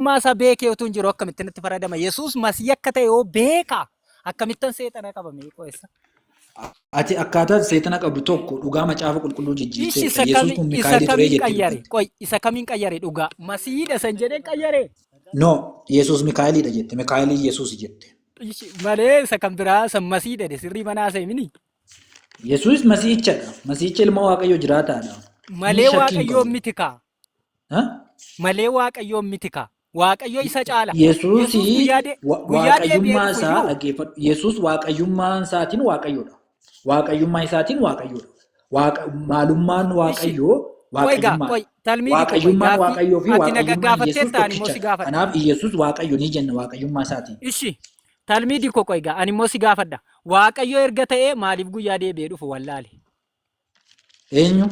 Mootummaa isaa beekee utuu hin jiru akkamitti natti faradama? Yesuus masii akka ta'e yoo beeka akkamittan seexana qabame qo'essa? Ati akkaataa seexana qabdu tokko dhugaa macaafa qulqulluu Ishi jijjiirteetta. isa Yesuus kami kun isa Mikaa'elii turee kamiin jettee qayyare? dubbatte. Qoy isa kamiin qayyare dhugaa? Masiidha san jedhee qayyare. No, Yesuus Mikaa'eliidha jette. Mikaa'elii Yesuus jette. Ishi malee isa kan biraa san masiidha de sirrii manaa isa himini. Yesuus masiichadha. Masiicha ilma Waaqayyoo jiraataadha. Inni Malee shakkii hin waaqayyoon qabu. miti kaa. Ha? malee waaqayyoon miti kaa. Waaqayyo isa caala. Yesuus Yesuusi guyyaa de- wa- guyyaa deebi'ee waaqayyummaa dhufu isaa iyyuu dhaggeeffadhu. Yesuus waaqayyummaa isaatiin waaqayyoodha. Waaqayyummaa isaatiin waaqayyoodha. Waaqa, maalummaan ishi waaqayyoo qoy gaa waaqayyummaadha. qoy talmii fi qoy Waaqayyummaan gaaffii waaqayyoo fi ati na waaqayyummaan Yesuus gaggaafatteetta ani immoo si tokkichadha. gaafadha. Kanaaf Yesuus waaqayyo ni jenna waaqayyummaa isaatiin. Ishi talmii dikko qoy gaa ani immoo si gaafadha. Waaqayyo erga ta'ee maaliif guyyaa deebi'ee dhufu wallaale? Eenyu?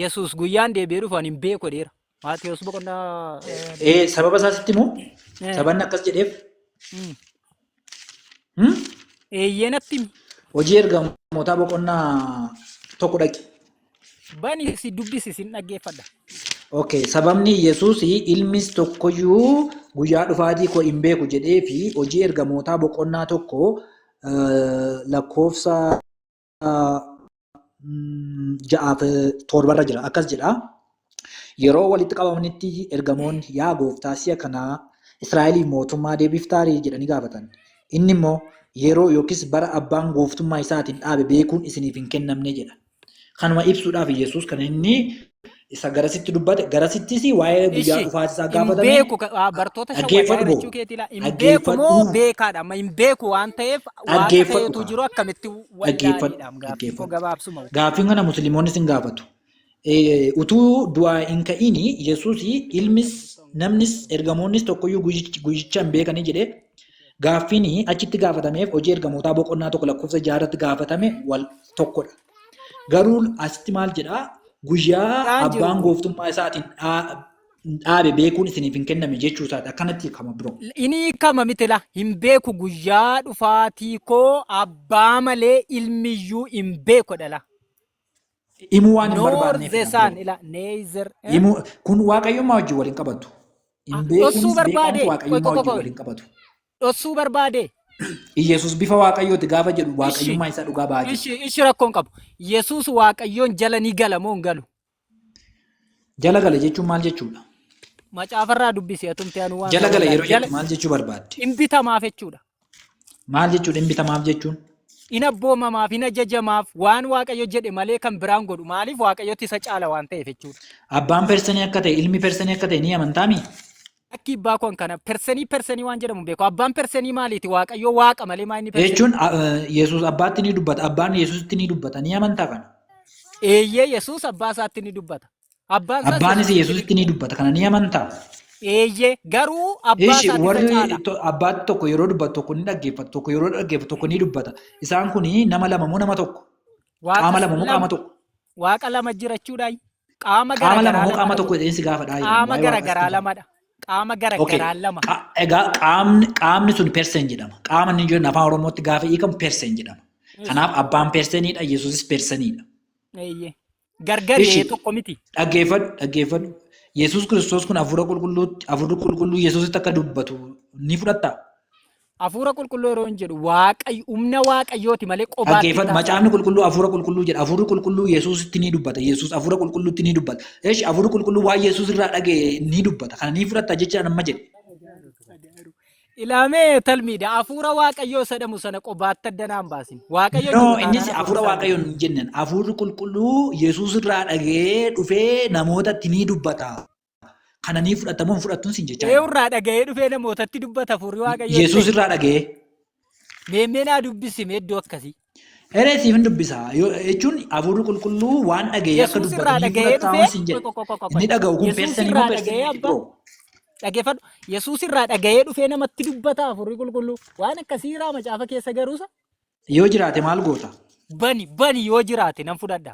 Yesuus guyyaan deebi'ee dhufu ani hin beeku jedheera. Maatiyus boqonnaa eh, Ee, sababa isaa sitti himu. Eh. Sabanni akkas jedheef. mm, Hmm? eeyyee natti himi. Hojii ergamootaa boqonnaa tokko dhaqi. Bani si dubbisi sin dhaggeeffadha. Okay, sababni Yesuus ilmis tokkoyyuu guyyaa dhufaatii koo hin beeku jedhee fi hojii ergamootaa boqonnaa tokko eh, lakkoofsa ja'aaf torbarra jira akkas jedha. Yeroo walitti qabamanitti ergamoonni yaa gooftaa si'a kanaa Israa'eliif mootummaa deebiftaarii jedhanii gaafatan. Inni immoo yeroo yookiis bara abbaan gooftummaa isaatiin dhaabe beekuun isiniif hin kennamne jedha. Kanuma ibsuudhaaf Yesuus kan inni isa garasitti dubbate garasittis waa'ee guyyaa Ishi, dhufaati isaa hin gaafatame beeku ka- aa, bartoota isa dhaggeeffadhu wayyaanee boo jechuu keetii laa hin beeku dhaggeeffadhu moo beekaadha amma hin beeku waan ta'eef waaqa dhaggeeffadhu ta'etu kaa jiru akkamitti dhaggeeffadhu wallaaleedhaam gaaffiin koo dhaggeeffadhu gabaabsuma wayya gaaffiin kana musliimonni sin gaafatu Eh, utuu du'aa hin ka'iin yesuus ilmis namnis ergamoonnis tokkoyyuu guyyicha guyyicha hin beekanii jedhee gaaffiin achitti gaafatameef hojii ergamootaa boqonnaa tokko lakkoofsa jaarratti gaafatame wal tokkodha Garuu asitti maal jedhaa guyyaa Dhaan jiru. abbaan gooftummaa isaatiin dhaa- dhaabe beekuun isiniif hin kenname jechuu isaati akkanatti hiikama biroo. Inni hiikama mitila hin beeku guyyaa dhufaatii koo abbaa malee ilmiyyuu hin beeku dhala. Himuu waan hin Nor barbaanneef the sun ila neither. eh? Himuu kun waaqayyummaa wajjin wal hin qabatu. Hin Ah, beekuunis ossuu beekamtu barbaade, waaqayyummaa tokko wajjin tokko- wal hin qabatu. dhossuu barbaadee? Iyyasuus bifa Waaqayyooti gaafa jedhu Ishi, Waaqayyummaa isaa dhugaa ba'aa jira. ishi, ishi rakkoon qabu. Yesuus Waaqayyoon jala ni gala moo hin galu? Jala gala jechuun maal jechuudha? Macaafarraa dubbisi atumti anu waan Jala ta'uu gala hin yeroo jala jettu maal jechuu barbaadde? hin bitamaaf jechuudha. Maal jechuudha hin bitamaaf jechuun? Hin abboomamaaf, hin ajajamaaf, waan Waaqayyo jedhe malee kan biraan godhu. Maaliif Waaqayyotti isa caala waan ta'eef jechuudha. Abbaan persanii akka ta'e, ilmi persanii akka ta'e ni amantaami? Akki ibbaa koo kana persenii persenii waan jedhamu beeku. Abbaan persenii maaliiti? Waaqayyoo waaqa malee maa inni persenii? Jechuun Yesuus abbaatti ni dubbata. Abbaan Yesuusitti ni dubbata. Ni amantaa kana? Eeyyee Yesuus abbaa isaatti ni dubbata. Abbaan isaas Abbaanis Yesuusitti ni Yesuusitti ni dubbata. Kana ni amantaa? Eeyyee garuu abbaa Ishi isaatti isa warri caala. to- abbaatti tokko yeroo dubbatu tokko ni dhaggeeffata. Tokko yeroo dhaggeeffatu tokko ni dubbata. Isaan kun nama lama moo nama tokko? Waaqa Qaama lama moo lama. qaama tokko? Waaqa lama jirachuudhaa? Qaama Qaama lama garagaraa moo qaama lamadha? tokko jedhee si gaafadhaa jedhan Qaama waa'ee waaqas garagaraa tufa. lamadha. Qaama Okay. garagaraa lama. Qa- Egaa qaamni qaamni sun persen jedhama. Qaama inni jedhu afaan Oromootti gaafa hiikamu persen jedhama. Eesh. Kanaaf abbaan perseniidha, Yesuusis perseniidha. Eeyyee. Gargari Ishi. ee tokko miti. Dhaggeeffadhu, dhaggeeffadhu. Yesuus Kiristoos kun hafuura qulqulluutti, hafuurri qulqulluu Yesuusitti akka dubbatu ni fudhattaa? Hafuura qulqulluu yeroo hin jedhu waaqayyo humna waaqayyooti malee qobaatti Dhaggeeffadhu macaafni qulqulluu hafuura qulqulluu jedha. Hafuurri qulqulluu Yesuusitti ni dubbata. Yesuus hafuura qulqulluutti ni dubbata. Eesh hafuurri qulqulluu waan Yesuus irraa dhaga'e ni dubbata. Kana ni fudhatta jecha amma jedhe. Ilaamee talmiidha hafuura waaqayyoo isa jedhamu sana qobaatti adda naan baasin. Waaqayyo No, jiru innis taanaan hafuura hafuura waaqayyoon hin jenneen. Hafuurri qulqulluu Yesuus irraa dhaga'ee dhufee namootatti ni dubbata. Kana ni fudhatta moo hin fudhattuun siin jechaa. Eewu irraa dhaga'ee dhufee namootatti dubbata furii waaqayyoo. Yesuus irraa dhaga'ee. Meemmee naa dubbisi mee iddoo akkasii. Eree siif hin dubbisa. Yoo- Jechuun hafuurri qulqulluu waan dhaga'ee akka Yesuus irraa dubbatu ni dhaga'ee fudhatta moo siin dhufee. jedhe. Qoy, qoy, qoy, qoy. Inni dhaga'u kun Yesuus persanii irraa moo persanii dhaga'ee miti abbaa. bro? Dhaggeeffadhu. Yesuus irraa dhaga'ee dhufee namatti dubbata hafuurri qulqulluu. Waan akkasii irraa macaafa keessa garuusa Yoo jiraate maal goota? bani bani yoo jiraate nan fudhadha.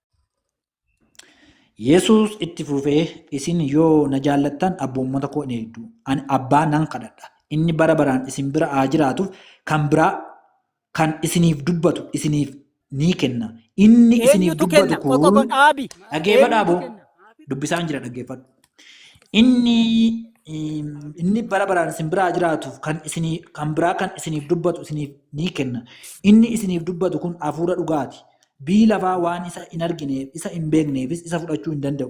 Yesuus itti fufee, Isin yoo na jaallattan abboommota koo in eegdu. Ani abbaa nan kadhadha. Inni bara baraan isin bira haa jiraatuuf kan biraa kan isiniif dubbatu isiniif ni kenna. Inni isiniif Eenyutu dubbatu kenna? Qoqqobo kun dhaabi. dhaggeeffadhaa Eenyutu boo kenna? dubbisaan jira dhaggeeffadhu. Inni mm, inni bara baraan isin biraa jiraatuuf kan isinii kan biraa kan isiniif dubbatu isiniif ni kenna. Inni isiniif dubbatu kun hafuura dhugaati. Biyyi lafaa waan isa hin argineef, isa hin beekneefis isa fudhachuu hin danda'u.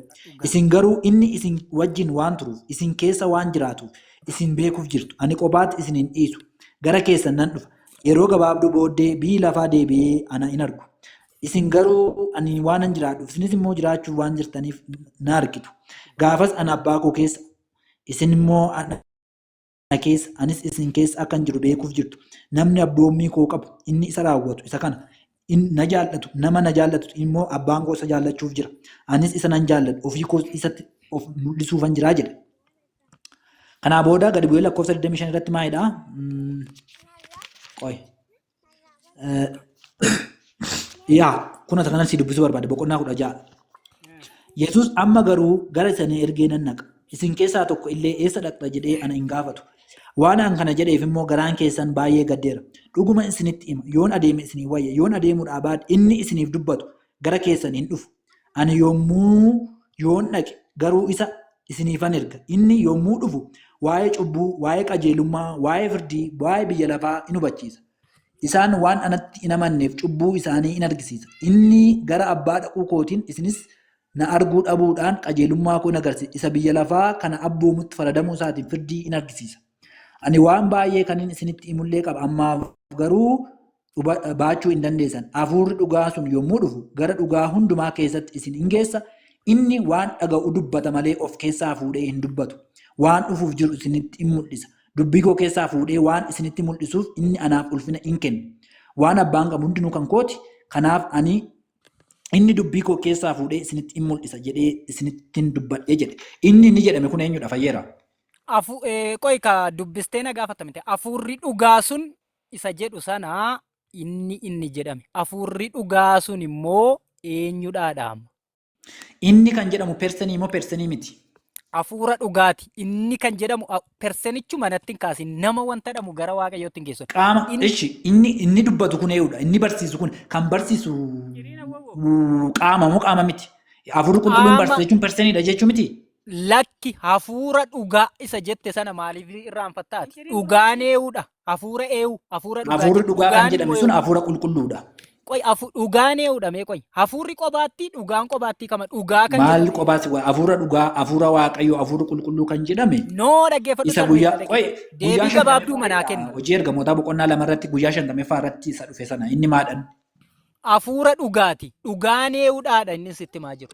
Isin garuu inni isin wajjin waan turuuf, isin keessa waan jiraatuuf isin beekuuf jirtu. Ani kophaatti isin hin dhiisu. Gara keessan nan dhufa. Yeroo gabaabduu booddee biyyi lafaa deebi'ee ana hin argu. Isin garuu ani waanan jiraadhuuf, isinis immoo jiraachuuf waan jirtaniif na argitu. Gaafas ana abbaa koo keessa, isin immoo ana Ana keessa, anis isin keessa akkan jiru beekuuf jirtu. Namni abboommii koo qabu, inni isa raawwatu, isa kana. In, na jaallatu, nama na jaallatu immoo abbaan koo isa jaallachuuf jira. Anis isa nan jaalladha, ofii koos isatti of mul'isuufan jira jedhe. Kanaa booda gadi bu'ee lakkoofsa 25 irratti maalidha? Qoy. Yaa kun asa kanan si dubbisuu barbaade boqonnaa kudha ja'a. Yesuus amma garuu gara isa na ergee nan dhaqa. Isin keessaa tokko illee eessa dhaqxa jedhee ana hin gaafatu. Waan an kana jedheef immoo garaan keessan baay'ee gaddeera. Dhuguma isinitti hima yoon adeeme isinii wayya yoon adeemuudhaa baadhe inni isiniif dubbatu gara keessan hin dhufu. Ani yommuu yoon dhaqe garuu isa isiniifan erga. Inni yommuu dhufu waa'ee cubbuu, waa'ee qajeelummaa, waa'ee firdii, waa'ee biyya lafaa in hubachiisa. Isaan waan anatti hin amanneef cubbuu isaanii in argisiisa. Inni gara abbaa dhaquu kootiin isinis na arguu dhabuudhaan qajeelummaa koo in agarsiisa. Isa biyya lafaa kana abboomutti faradamuu isaatiin firdii in argisiisa. Ani waan baay'ee kanin isinitti himullee qaba, ammaaf garuu baachuu hin dandeessan. Hafuurri dhugaa sun yommuu dhufu gara dhugaa hundumaa keessatti isin in geessa. Inni waan dhaga'u dubbata malee of keessaa fuudhee hin dubbatu. Waan dhufuuf jiru isinitti in mul'isa. Dubbii koo keessaa fuudhee waan isinitti mul'isuuf inni anaaf ulfina in kenna. Waan abbaan qabu hundinuu kan kooti. Kanaaf ani inni dubbii koo keessaa fuudhee isinitti in mul'isa jedhee isinittin dubbadhe jedhe. Inni inni jedhame kun eenyudha fayyeera? Qoy ka dubbistee na gaafatta miti. Hafuurri dhugaa sun isa jedhu sana inni inni jedhame. Afuurri dhugaa sun immoo eenyudhaa dhaama. Inni kan jedhamu persenii moo persenii miti? Afuura dhugaati. Inni kan jedhamu a- persenichu manatti hin kaasin. Nama wanta dhamu gara waaqayyootti hin geessu. Qaama Inni- ishi inni inni dubbatu kun eeyudha. Inni barsiisu kun kan barsiisu mm, qaama moo qaama miti? Afuurri qulqulluun Qaama. barsiisa jechuun perseniidha jechuu miti? Lakki hafuura dhugaa isa jette sana maaliif irraanfattaati? Dhugaan ee'uudha. Hafuura eewu, hafuura dhugaa Hafuurri jedhu. dhugaa kan Dhugaan jedhame immoo sun eewu. hafuura qulqulluudha. Qoy, hafu- dhugaan eewudha mee qoy. Hafuurri qobaatti, dhugaan qobaatti kama. Dhugaa kan Maal jedhamu. qobaas waa hafuura dhugaa, hafuura waaqayyoo, hafuura qulqulluu kan jedhame No, dhaggeeffadhu isa guyyaa sarreeffadha. qoy guyyaa Deebii shantameffaa gabaabduu manaa irraa kennu. hojii ergamootaa boqonnaa lama irratti guyyaa shantameffaa irratti isa dhufe sana inni maadhan Hafuura dhugaati. Dhugaan eewudhaadha inni sitti maa jiru.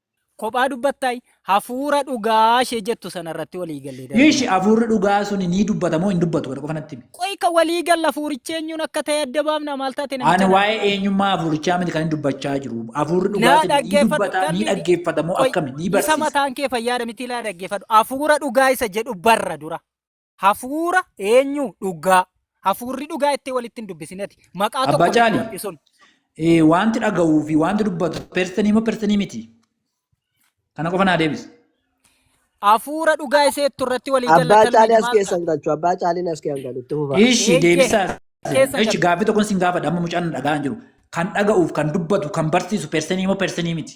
Kophaa dubbattaay hafuura dhugaa ishee jettu sana irratti walii gallee darbe. Ishi hafuurri dhugaa suni ni dubbata moo hin dubbatu kana qofa natti himi. Qoy ka walii galla hafuurichi eenyuun akka ta'e adda baafna maal taate namicha Ani kana. waa'ee eenyummaa hafuurichaa miti kan inni dubbachaa jiru. Hafuurri dhugaa Naa suni ni dhaggeeffadhu dubbata, ni darbiiti. dhaggeeffata moo Qoy akkami? Ni isa barsiisa. mataan kee fayyaadha miti ilaa dhaggeeffadhu. Hafuura dhugaa isa jedhu barra dura. hafuura eenyu dhugaa hafuurri dhugaa itti walitti hin dubbisinati maqaa Abbaa tokko Caalii. dubbadhu sun Eh, Wanti dhaga'uu fi wanti dubbatu persanii moo persanii miti? Kana qofa naa deebisa. hafuura dhugaa iseettu irratti walii Abbaa galatan caalii as maal keessa ta'a? hin galchu. Abbaa caaliin as keessa hin galu. Itti fufa. Ishi Eeyyee. deebisaa. Keessa Ishi galu. gaaffii tokkoon siin gaafadha amma mucaan na dhaga'aa hin jiru. Kan dhaga'uuf kan dubbatu kan barsiisu persanii moo persanii miti?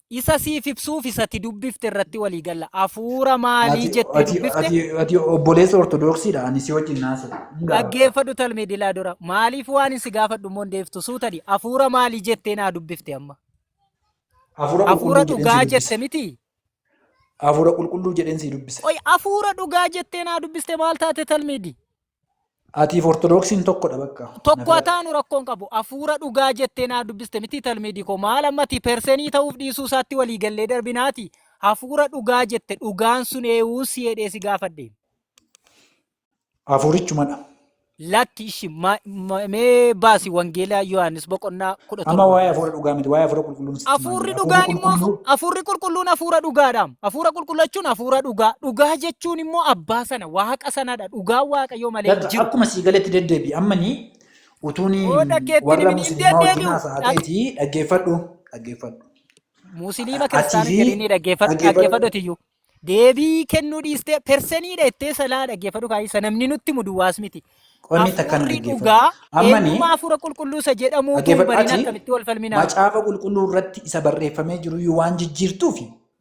Isa siif ibsuuf isa ati dubbifte irratti walii galla. Hafuura maalii Ati- jettee ati- dubbifte? ati- ati obboleessa ortodoksiidha ani si wajjin naasa Dhaggeeffadhu talmee dilaa dura. Maaliif waan si gaafadhu immoo hin deeftu suutani. Hafuura maalii jettee naa dubbifte amma? hafuura Hafuura qulqulluu dhugaa jedheen si jette miti. dubbise. hafuura qulqulluu jedheen si dubbise Qoy hafuura dhugaa jettee naa dubbiste maal taate talmeedi? Atiif ortodoksiin tokkodha bakka. Tokko ataanu rakkoon qabu afuura dhugaa jettee naa dubbiste miti talmiidii koo maal ammati persenii ta'uuf dhiisuu isaatti walii gallee darbinaati hafuura dhugaa jette dhugaan sun eewuun si jedhee si gaafadhe. Afuurichumadha. Lakki ishi ma- ma- mee baasi wangeela Yohaannis boqonnaa kudha Amma torba. waa'ee afuura dhugaa miti waa'ee afuura qulqulluun sitti Afuurri malee. Afuurri dhugaan immoo qulqulluu afuurri qulqulluun afuura dhugaadhaam. Afuura qulqullachuun afuura dhugaa. Dhugaa jechuun immoo abbaa sana waaqa sanadha. Dhugaan Waaqayyoo malee hin Latta jiru. akkuma sii galetti deddeebi ammani utuun Qooda keetti hin warra himin hin musliimaa wajjin deddeebi'u. haasa'aa Dhag- ta'eeti dhaggeeffadhu dhaggeeffadhu Musliima Atii kiristaana fi jedhanii dhaggeeffadhu dhaggeeffadhu. dhaggeeffadhu tiyyuu. Deebii kennuu dhiistee perseniidha jettee salaa dhaggeeffadhu kaayisa namni nutti muduwaas miti. qonni takkan Hafuurri dhaggeeffadhu dhugaa ammani eenyummaa hafuura qulqulluusa jedhamuu kun dhaggeeffadhu bariin ati akkamitti wal falminaa? macaafa qulqulluu irratti isa barreeffamee jiru waan jijjiirtuufi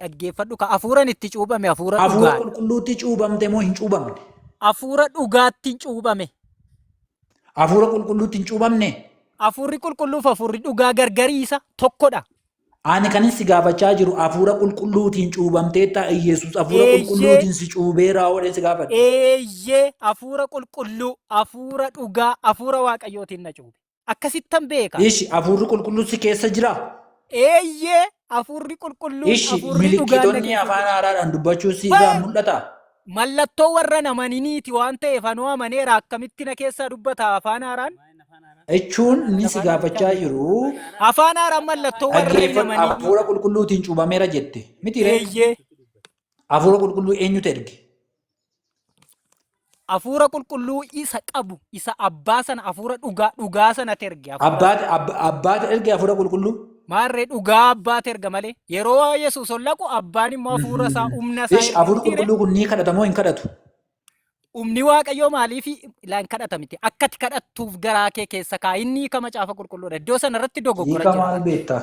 Dhaggeeffadhu ka hafuuran itti cuuphame hafuura Hafuura dhugaa. qulqulluutti cuubamte moo hin cuubamne? Hafuura dhugaattiin cuuphame. Hafuura qulqulluutti hin cuubamne? Hafuurri qulqulluuf hafuurri dhugaa gargariisa tokkodha. Ani kan si gaafachaa jiru hafuura qulqulluutiin cuubamteetta Iyyasuus hafuura Eeyyee. qulqulluutiin si cuubeeraa oodheen si gaafadha. Eeyyee hafuura qulqulluu, hafuura dhugaa, hafuura waaqayyootiin na cuube. Akkasittan beeka. Ishi, Hafuurri Qulqulluun si keessa jiraa? Eeyyee, Hafuurri Qulqulluun Ishi, Hafuurri dhugaan na milikkitonni keessa afaan jira. haaraadhaan dubbachuu si irraa Hey! mul'ata? Mallattoo warra hin amaniniiti waan ta'eef anoo amaneera akkamitti na keessaa dubbata afaan haaraan? Jechuun inni si gaafachaa jiru Afaan haaraan mallattoo warra hin dhaggeeffadhu amaniniiti. hafuura qulqulluutiin cuubameera jette. Miti ree? Eeyyee. Hafuura qulqulluu eenyutu erge? Hafuura qulqulluu isa qabu, isa abbaa sana hafuura dhugaa, dhugaa sanatti erge. hafuura- Abbaati abba- abbaati erge hafuura qulqulluu. Maarree dhugaa abbaatti erga malee. Yeroo Yesuus ol dhaqu abbaan immoo hafuura isaa humna isaa Ish erga hafuurri mitiire. qulqulluu kun ni kadhata moo hin kadhatu? Humni Waaqayyoo maaliif ilaan kadhata miti? Akka ati kadhattuuf garaa kee keessa kaa inni hiika macaafa qulqulluudha. Iddoo sana irratti dogoggora Hiika jira. maal beektaa?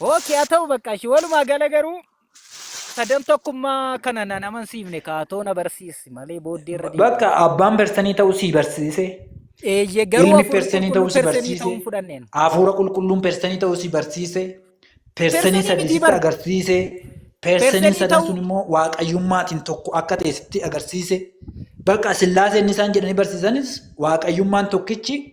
Okay, haa ta'u bakka ishee walumaa gala garuu sadan tokkummaa kana nan amansiifne kaatoo na barsiisi malee booddee irra deebi'u. Bakka abbaan persanii ta'uu sii barsiise. Eeyyee garuu Ilmi hafuurri persanii ta'uu qulqulluun si persanii barsiise. ta'uun fudhanneen. Hafuura qulqulluun persanii ta'uu si barsiise. Persanii Persanii sadii mitii sitti bar. agarsiise. Persanii Persanii sadan ta'uu- sun immoo waaqayyummaatiin tokko akka ta'e sitti agarsiise. Bakka sillaaseen isaan jedhanii barsiisanis waaqayyummaan tokkichi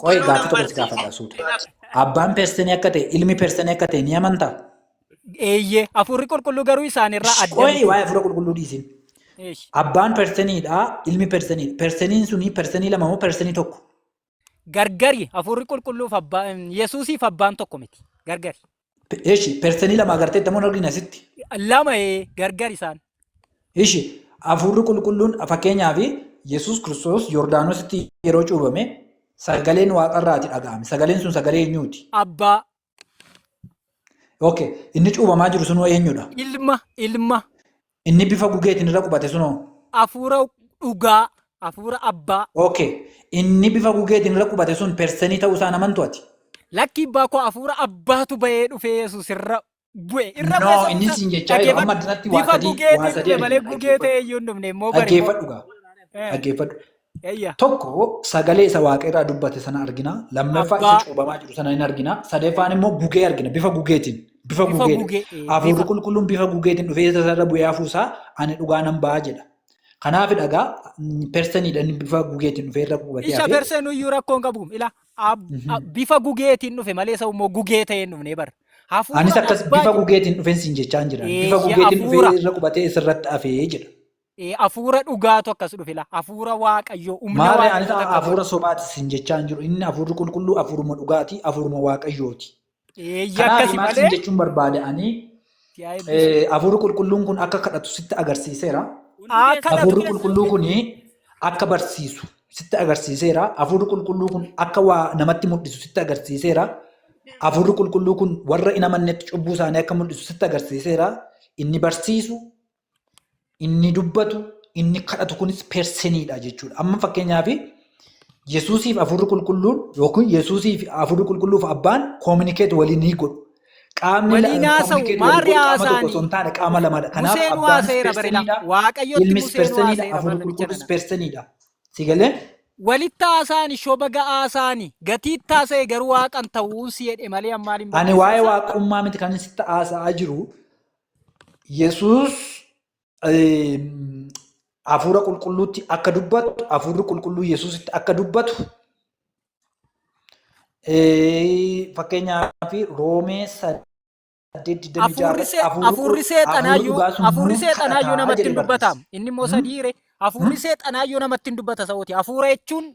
Qoy Baruu gaaffii tokko si nambarsi. gaafadha suuta. Abbaan persanii akka ta'e ilmi persanii akka ta'e ni amantaa? Eeyyee hafuurri qulqulluu garuu isaan irraa adda Qoy miti. waa'ee hafuura qulqulluu dhiisin. Eesh. Abbaan persaniidha ilmi persaniidha. Persaniin suni persanii lama moo persanii tokko? Gargari hafuurri qulqulluuf abbaan Yesuusiif abbaan tokko miti. Gargari. Ishi persanii lama agarteetta moo hin argine asitti? Lama ee gargar isaan. Ishi hafuurri qulqulluun fakkeenyaaf Yesuus Kiristoos Yordaanositti yeroo cuubame sagaleen waaqarraati dhaga'ame. Sagaleen sun sagalee eenyuuti? Abbaa, Okay, inni cuubamaa jiru sunuu eenyudha? ilma, ilma. Inni bifa gugeetiin irra qubate sunoo. Hafuura dhugaa, hafuura abbaa. Okay. Inni bifa gugeetiin irra qubate sun persenii ta'uu isaa namantu ati. Lakkii abbaa koo hafuura abbaatu bahee dhufee Yesuus irra bu'e. Irra No, bu'e inni siin jechaa jiru amma addanatti waa bifa sadii- waa gugeetiin sadii dhufe malee argina. gugee ta'e iyyuu hin dhufne immoo bari. Dhaggeeffadhu gaa. Eh. Dhaggeeffadhu. Eeyya. Tokko sagalee isa waaqa irraa dubbate sana argina. Lammaffaa isa Abbaa. cuubamaa jiru sana hin argina. Sadeeffaan immoo gugee argina bifa gugeetiin. Bifa Bifa gugeedha. gugee, ee, Hafuurri bifa. qulqulluun bifa gugeetiin dhufee isa irra bu'ee hafuusaa ani dhugaa nan ba'a jedha. Kanaaf dhagaa perseniidha inni bifa gugeetiin dhufee irra qubatee Isha hafe. persee nuyyuu rakkoon qabu ila ab- a- bifa gugeetiin dhufe malee isa immoo gugee ta'ee hin dhufne bar. Hafuura Anis akkas abbaa bifa jedhu. gugeetiin dhufeen siin jechaa hin jiran. Bifa Eeyya, gugeetiin hafuura. dhufee irra qubatee isa irratti hafee jedha. Eh, Hafuura dhugaatu akkas dhufe la. Hafuura Waaqayyoo, humna Maarree Waaqayyoo anis takka hafuura godhe. sobaati sin jechaa hin jiru. Inni hafuurri qulqulluu hafuuruma dhugaati, hafuuruma waaqayyooti. Eeyyee Kanaaf akkasi maal sin malee jechuun barbaade ani si haa eebbisu. eh, hafuurri qulqulluun kun akka kadhatu sitti agarsiiseera. Hundi Haa keessan kadhatu. Hafuurri qulqulluu kun akka barsiisu sitti agarsiiseera. Hafuurri qulqulluu kun akka waa namatti mul'isu sitti agarsiiseera. Hafuurri qulqulluu kun warra hin amannetti cubbuu isaanii akka mul'isu sitti agarsiiseera. Inni barsiisu, Inni dubbatu, inni kadhatu kunis perseniidha jechuudha. Amma fakkeenyaaf Yesuusiif hafuurri qulqulluun yookiin Yesuusiif hafuurri qulqulluuf abbaan koominikeet walii ni godhu. Qaamni Walii lama naasa'u, communicate walii maarri godhu qaama tokko haasaanii? osoo hin taane qaama lamadha. Kanaaf Museen abbaanis waaseera barela. perseniidha, Waaqayyotti ilmis Museen perseniidha, waaseera hafuurri barnamicha qulqulluus nana. perseniidha. Si galee? Walitti haasaani shoba ga'aasaani gatiitti haasa'e garuu waaqan ta'uun si jedhe malee ammaal hin Ani waa'ee barreessaa. waaqummaa miti kan sitti haasa'aa jiru. Yesuus hafuura qulqulluutti akka dubbatu, hafuurri qulqulluu Yesuusitti akka dubbatu fakkeenyaaf Roomee Hafuurri seexanaayyuu hafuurri seexanaayyuu namatti hin dubbataam. Inni immoo sadiire hafuurri seexanaayyuu namatti hin dubbata sa'ooti. Hafuura jechuun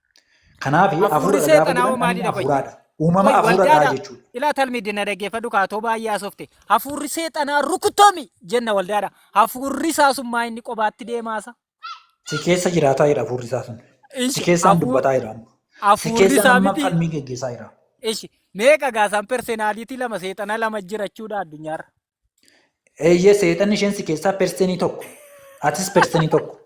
Kanaaf Hafuurri hafuura gaafa seexanaa jedhan hoo kan maalidha fayyadu? hafuuraadha. Uumama Qoy hafuura irraa waldaadha. jechuudha. Ilaa talmi dinna dhaggeeffadhu kaatoo baay'ee haasofte. Hafuurri seexanaa rukutomi jenna waldaadha. Hafuurri isaa sun maa inni qobaatti deemaasa? Si keessa jiraataa jira hafuurri isaa sun. Si Ishi keessaan hafuur dubbataa jira amma. Si hafuurri keessaan isaa amma miti. falmii geggeessaa jira. Ishi meeqa gaasaan personality lama seexana lama jirachuudha addunyaarra. Eeyyee seexanni isheen si keessaa persenii tokko. Atis persenii tokko.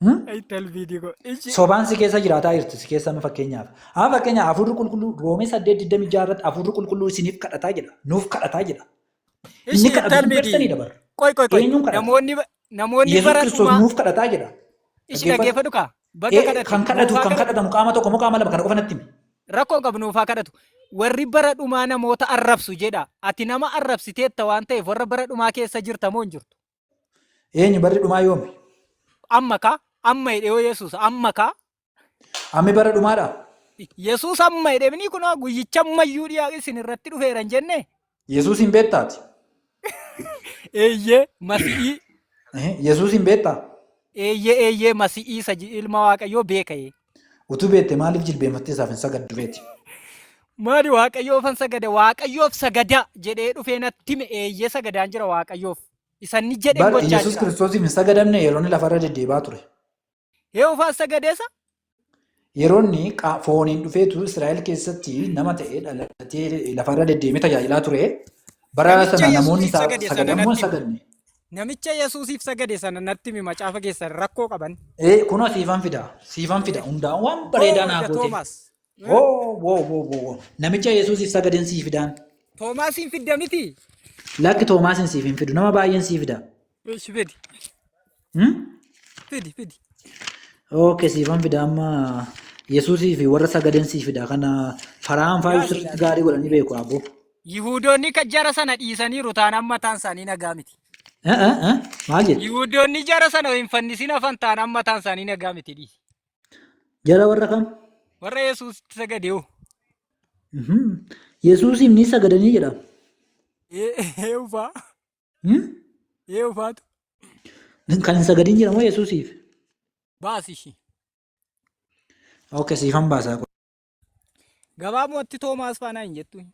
Hmm? Ay talbiidii koo. Ishi. Sobaan si keessa jiraataa jirti si keessa amma fakkeenyaaf. Amma fakkeenyaaf hafuurri qulqulluu roomee saddeet digdamii ja'a irratti hafuurri qulqulluu isiniif kadhataa jedha. Nuuf kadhataa jedha. Inni Ishi kadhatu sun talbiidii. persenii dabarra. Qoy qoy qoy. Eenyuun kadhata? Namoonni ba- Namoonni Yesus bara Kiristoos dhumaa nuuf kadhataa jedha. ishi Dhaggeeffadhu. dhaggeeffadhu kaa. Baga Eh, kadhate. Kan kadhatu nuufaa kan kadhatu. kadhatamu qaama tokko moo qaama lama kana qofa natti himi. Rakkoo hin qabu nuufaa kadhatu. Warri bara dhumaa namoota arrabsu jedha. Ati nama arrabsiteetta waan ta'eef warra bara dhumaa keessa jirta moo hin jirtu? Eenyu barri dhumaa yoomi? Amma kaa amma hidhee yoo Yesuus amma kaa Ammi bara dhumaadha. Yesuus amma jedhemni kun guyyicha ammayyuu dhiyaa isin irratti dhufeera hin jenne. Yesuus hin beektaati. Eeyyee masi'ii. Yesuus hin beektaa. Eeyyee eeyyee masi'ii isa ilma waaqayyoo beeka'ee. Utuu beekte maaliif jilbeenfattee isaaf hin sagaddu reeti? Maali waaqayyoof hin sagada waaqayyoof sagada jedhee dhufee natti hime eeyyee sagadaan jira waaqayyoof. Isa inni jedhe Bar gochaa Yesuus jira. Kiristoosiif hin sagadamne yeroo inni lafarra deddeebi'aa ture. Yehoofaas sagadeesa. Yeroonni qa- fooniin dhufeetu Israa'el keessatti nama ta'ee dhalatee lafarra deddeemee tajaajilaa ture. Bara Namicha sana Yesuusiif namoonni isaa sagade sana sagadan moo hin natti himi. sagadne? Namicha Yesuusiif sagade sana natti himi macaafa keessan rakkoo qaban. Ee, kunoo siifan fida, siifan fida. Hundaa waan bareedaa Hoo naa ija goote. Toomaas. Woo woo woo woo woo. Namicha Yesuusiif sagadan sii fidaan. Toomaasiin fidda miti. Lakki Toomaasin siif hin fidu. Nama baay'een sii fida. Ish fidi. Hmm? Fidi fidi. Okay, siifan fida amma Yesuusii fi warra sagadan sii fida. Kana faraan faayuu Yaali, sirriitti yaali. gaarii godhanii beeku abbo. Yihuudoonni kan jara sana dhiisaniiru taanaan mataan isaanii nagaa miti. Eh, eh, eh, Maal jettu? Yihuudoonni jara sana hin fannisin hafan taanaan mataan isaanii nagaa miti dhiisi. Jara warra kam? Warra Yesuusitti sagade hoo? Mhm. Yesuusiif ni sagadanii jedha. Ee ufaa. Hmm? Ee ufaatu. Kan hin sagadin jira moo Yesuusiif? Baasi ishii. Ok, siifan baasaa. Gabaabumatti Toomaas faanaa hin jettu.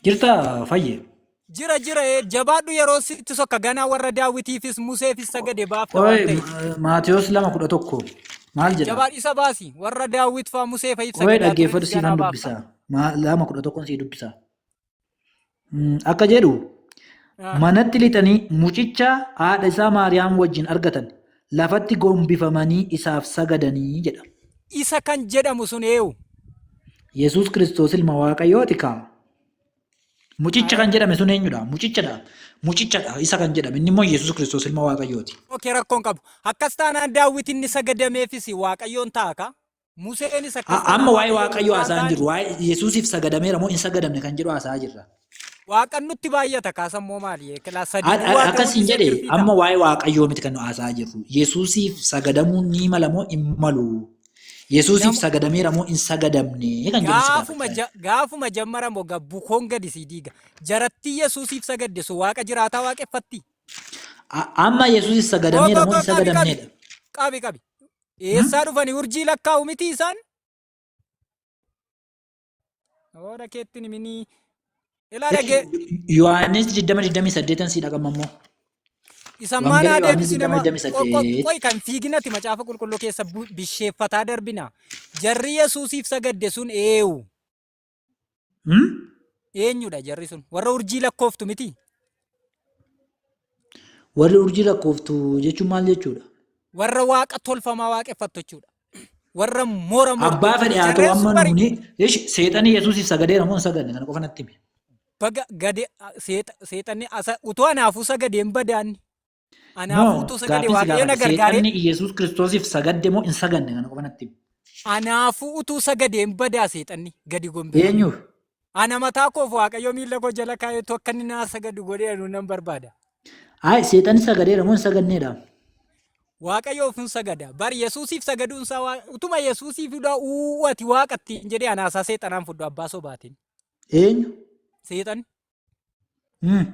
Jirtaa fayye. Jira jira ee, jabaadhu yeroo sitti sokka ganaa warra daawwitiifis museefis sagade baafta waan Qoy ta'eef. Maatiyos lama kudha tokko maal jedha? Jabaadhu isa baasi warra daawwit faa musee fa'iif Qoy sagadaa dhaggeeffadhu turiifis siifan ganaa baafta. dubbisaa. Ma- Lama kudha tokkon sii dubbisaa. Mm, Akka jedhu Ah. manatti lixanii mucicha haadha isaa Maariyaam wajjin argatan lafatti gombifamanii isaaf sagadanii jedha. Isa kan jedhamu sun eewu. Yesuus Kiristoos ilma Waaqayyooti kaa. Mucicha kan jedhame sun eenyudha? Mucichadha. Mucichadha isa kan jedhame inni immoo Yesuus Kiristoos ilma Waaqayyooti. Ookee rakkoon qabu. Akkas taanaan daawwiti inni sagadameefis waaqayyoon ta'a kaa. Museenis akkas jedha. Amma waa'ee Waaqayyoo haasaa hin jirru. Waa'ee Yesuusiif sagadameera moo hin sagadamne kan jedhu haasaa jirra. Waaqan nutti baay'ata kaasan moo maali? Kilaa sadii duwwaa ta'uu Akkas hin dhiisee jedhe kirtii amma ta'a. waa'ee Waaqayyoo miti kan nu haasaa jirru. Yesuusiif sagadamuun ni mala moo hin malu? Yesuusiif Nama- sagadameera moo hin sagadamne kan jedhu si Gaafuma gaafachaa ja- gaafuma jammara moo ga- bukoon gadi sii diiga. Jarattii Yesuusiif sagadde sun waaqa jiraataa waaqeffatti. A- Amma Yesuusiif Koo sagadameera koo moo koo hin qabi qabi. sagadamneedha? Qabi qabi. Eessaa dhufani urjii lakkaa'u miti isaan? Hooda keetti niminii. Ilaa dhagee. Yohaannis 20:28 si dhagama immoo. Isan Wangeela maanaa Yohaannis deebisine ma- 20:28. qo- qo- qoy kan fiiginati macaafa qulqulluu keessa bu- bisheeffataa darbina. Jarri Yesuusiif sagadde sun eewu. Hmm? Eenyudha jarri sun? Warra urjii lakkooftu miti? Warri urjii lakkooftu jechuun maal jechuudha? Warra waaqa tolfamaa waaqeffattu jechuudha. Warra moora moortu Abbaa fedhe jechuudha. haa ta'u Jarreen sun amma bari nuuni ish seexanii Yesuusiif sagadeera moo hin sagadne kana qofa natti himi. baga gade seexa- seexanni asa utuu anaafuu sagadeen badaanni. Anaa Moo fuutuu sagalee gaaffii si waaqayyo na gaafadhe gargaaree seexanni Iyyasuus Kiristoosiif sagadde moo hin saganne kana qofa natti himi. anaafuu utuu sagadee hin badaa seexanni gadi gombifame. Eenyuuf? Ana mataa koof waaqayyo miila koo jala kaa'eetu akka inni naa sagadu godhee anuu nan barbaada. Ayi seexanni sagadeera moo hin saganneedha? Waaqayyoof hin sagada. Bar Yesuusiif sagaduun isaa waa- utuma Yesuusiif dhaa uuu ati waaqatti hin jedhee anaasaa seexanaan fudhu abbaa sobaatiin. Eenyu? Seexan Hmm.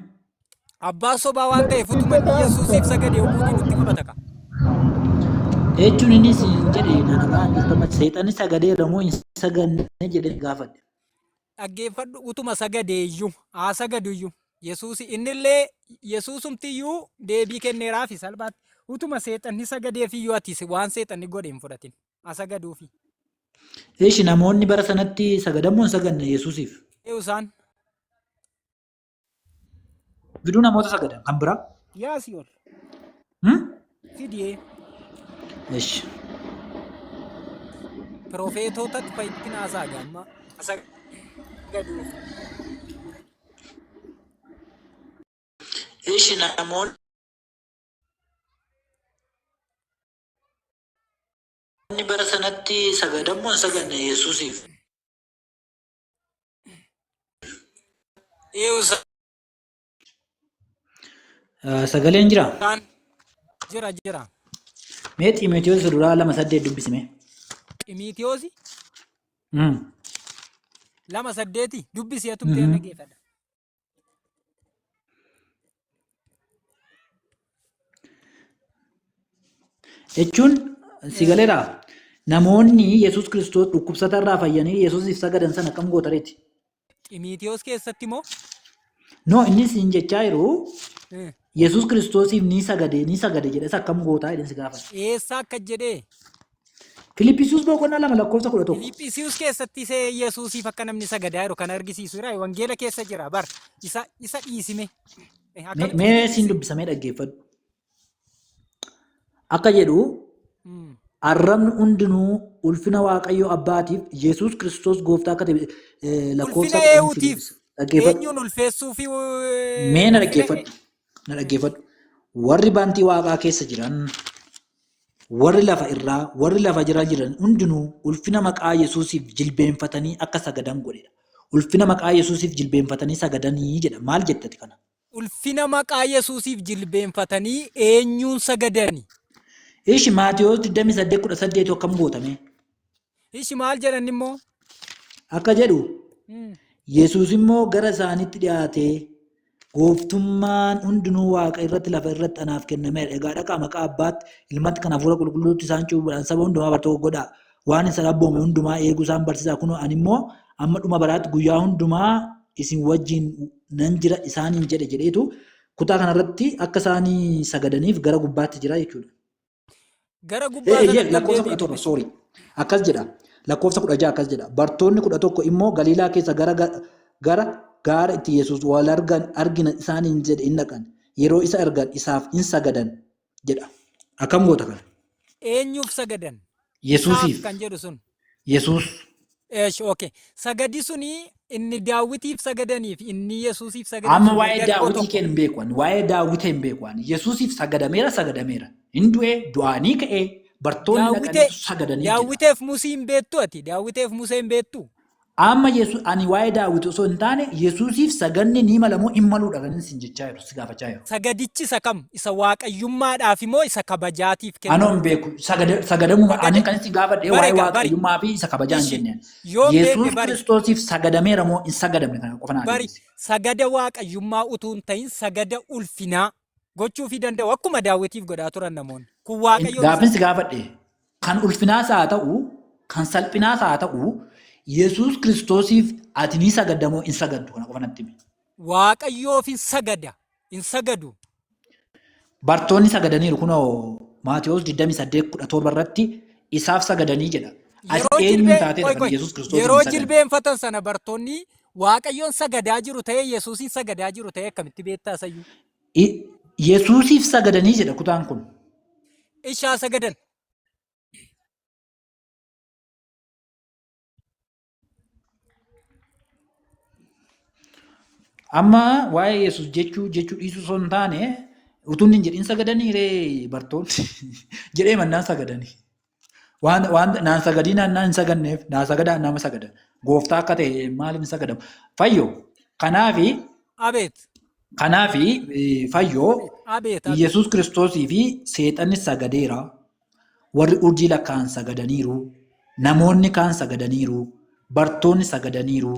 Abbaa sobaa waan ta'eef utuma inni Yesuusiif sagade oguu diinu itti qabata ka. Jechuun innis hin jedhe nanagaa jirtama seexanni sagadeera moo hin saganne jedhee gaafadhe. Dhaggeeffadhu utuma sagade iyyuu haa sagadu iyyuu Yesuus innillee Yesuusumti iyyuu deebii kenneeraafi salphaatti utuma seexanni sagadeef iyyuu ati waan seexanni godhe hin fudhatin. a sagaduufi. Ishi namoonni bara sanatti sagadan moo hin saganne Yesuusiif? Eeyu isaan? Giduu namoota sagadan kan biraa? Yaa si'ol. Hmm? Fidiyee. Ishi. Pirofeetootatti fa'itti naasaa gaamma. A sagaduufi. Ishi namoonni Namoonni bara sanatti sagadan moo hin saganne Yesuusiif? Eewu isaan Ah, Sagaleen jira. jira jira. Mee Xiimotewos isa duraa lama saddeet dubbisime. Ximiitiyoosi Mm. lama saddeeti dubbisi atumtee Mhm. dhaggeeffadha. jechuun si galeera namoonni yesus kiristoos dhukkubsata irraa fayyanii yesusiif sagadan sana akkam gootareeti Ximiitiyoos keessatti moo? no innis hin jechaa jiru Eh, yesus kiristoosiif ni sagade ni sagade jedhes akkam gootaa jedheen si gaafata Eessa akka jedhee? Filiphisius boqonnaa lama lakkoofsa kudha tokko. Filiphisius keessatti isa Yesuusiif akka namni sagadaa jiru kan argisiisu jira. Wangeela keessa jira bar. Isa isa dhiisime. Eh, Mee akkamitti mee siin dhiisime? dubbisamee dhaggeeffadhu. Akka jedhu Mm. arrabni hundinuu ulfina Waaqayyoo Abbaatiif Yesuus Kiristoos gooftaa akka ta'e eh, lakkoofsa Ulfina kudhan siin eewutiif dubbisa. Dhaggeeffadhu. eenyuun ulfeessuu fi Mee na ulfina dhaggeeffadhu. Na dhaggeeffadhu. Warri bantii waaqaa keessa jiran Warri lafa irraa, warri lafa jala jiran hundinuu ulfina maqaa Yesuusiif jilbeenfatanii akka sagadan godhe dha. Ulfina maqaa Yesuusiif jilbeenfatanii sagadanii jedha. Maal jetta ati kana? Ulfina maqaa Yesuusiif jilbeenfatanii eenyuun sagadani? Ishi Maatewos 28:18 akkam goota mee? Ishi maal jedhan immoo? Akka jedhu, Yesuus immoo gara isaanitti dhiyaatee, Gooftummaan hundinuu waaqa irratti lafa irratti anaaf kennameera. Egaa dhaqaa maqaa abbaatti, ilmatti kan hafuura qulqulluutti isaan cuuphuudhaan saba hundumaa bartoota godhaa. Waan isin abboome hundumaa eeguu isaan barsiisaa kunoo ani immoo amma dhuma baraatti guyyaa hundumaa isin wajjin nan jira isaaniin jedhe jedheetu kutaa kanarratti akka isaan sagadaniif gara gubbaatti jira jechuudha. Gara Eh, gubbaa eh, sana yeah, lakkoofsa kudha deebi'ii torba dhufe. sorry akkas jedha lakkoofsa kudha jaha akkas jedha bartoonni kudha tokko immoo galiilaa keessa gara ga- gara gaara itti yesus wal argan argina isaaniin jedhe in dhaqan yeroo isa argan isaaf in sagadan jedha akkam goota kana Eenyuuf sagadan? Isaaf yesusiif kan jedhu sun. Yesuus. Eesh ok sagadi suni inni daawwitiif sagadaniif inni yesuusiif sagade Amma suni waa'ee garuu daawwitii tokko keen hin beeku ani. Waa'ee daawwitee hin beeku ani. Yesuusiif sagadameera sagadameera. Hin du'ee du'aanii ka'ee bartoonni daawwitee dhaqaniitu sagadaniif jedha. daawwiteef musii hin beektu ati daawwiteef musee hin beektu Amma Yesu, ani waa'ee Daawit osoo hin taane, Yesusiif sagadni ni mala moo hin maluudha kanin isin jechaa jiru, si gaafachaa jiru. Sagadichi isa kam? Isa Waaqayyummaadhaafi moo isa kabajaatiif Anoo kennamu? hin beeku. Sagada, sagadamuma, Sagada- ani kan isin gaafadhe waa'ee Barega, bari. Waaqayyummaa fi isa kabajaa hin Ishi, jenneen. yoon beeke Yesus bari. Kiristoosiif sagadameera moo hin sagadamne kana qofa naa Bari, deebisi. sagada Waaqayyummaa utuu hin ta'in sagada ulfinaa. gochuufii danda'u akkuma daawwitiif godhaa turan namoonni. Kun waaqayyoon Gaaffiin si gaafadhe kan ulfinaas haa ta'u kan salphinaas haa ta'u Yesuus Kiristoosiif ati ni sagadda moo hin sagaddu kana qofa natti himi. waaqayyoof hin sagada hin sagadu. Bartoonni sagadaniiru kunoo Maatewos 28:17 irratti isaaf sagadanii jedha. Ati Yeroo eenyuun jilbee taatee qoy kan qoy Yesuus Kiristoosiif yeroo hin sagadne? jilbeenfatan sana bartoonni Waaqayyoon sagadaa jiru ta'ee Yesuusiin sagadaa jiru ta'ee akkamitti beektaa sayyuu? I- Yesuusiif sagadanii jedha kutaan kun. Ishaa sagadan. Amma waa'ee Yesuus jechuu jechuu dhiisuu osoo hin taane utuu inni hin jedhin sagadanii ree bartoonni jedhee mannaan sagadanii. Waan, waan naan sagadii naan naan hin saganneef naa sagadaa nama sagada. Gooftaa akka ta'e maaliin sagadama. Fayyoo. Kanaafi, Abeet. kanaafi eh, fayyoo Abeet. Abeet. Yesuus Kiristoosii fi seexanni sagadeera. Warri urjii lakkaa'an sagadaniiru. Namoonni kaan sagadaniiru. Bartoonni sagadaniiru.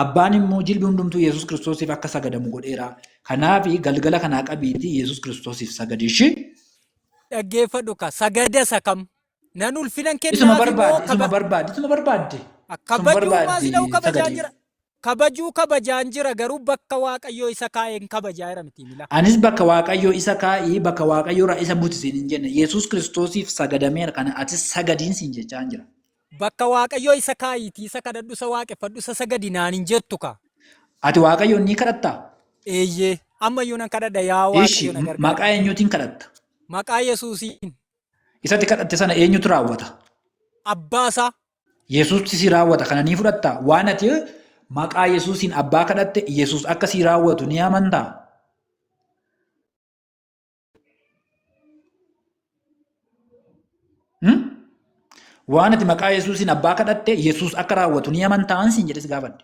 Abbaan immoo jilbi hundumtuu Yesuus Kiristoosiif akka sagadamu godheera. Kanaaf galgala kanaa qabiitii Yesuus Kiristoosiif sagadi ishii. dhaggeeffadhu ka sagada isa kam nan ulfinan isuma kennaafi moo barbaadde isuma kaba barbaadde isuma barbaadde isuma kabajuu maas barbaadde dha'u kabajaan sagadiif jira kabajuu kabajaan jira garuu bakka waaqayyoo isa kaa'een kabajaa jira miti mila anis bakka waaqayyoo isa kaa'ii bakka waaqayyoo irraa isa buti siin hin jenne yesus kiristoosiif sagadameera kana atis sagadiin siin jechaan jira Bakka Waaqayyoo isa kaa'iitii isa kadhadhu, isa waaqeffadhu, isa sagadi naan hin jettu kaa. Ati Waaqayyoon ni kadhattaa? Eeyyee, amma iyyuu nan kadhadha yaa Ishi, Waaqayyo na gargaari. maqaa eenyuutiin kadhatta? Maqaa Yesuusiin Isatti kadhatte sana eenyutu raawwata? abbaa isaa Yesuusti si raawwata kana ni fudhattaa? Waan ati maqaa Yesuusiin abbaa kadhatte Yesuus akka si raawwatu ni amantaa? Waan ati maqaa Yesuusiin abbaa kadhatte Yesuus akka raawwatu ni amantaan siin jedhes gaafadhe.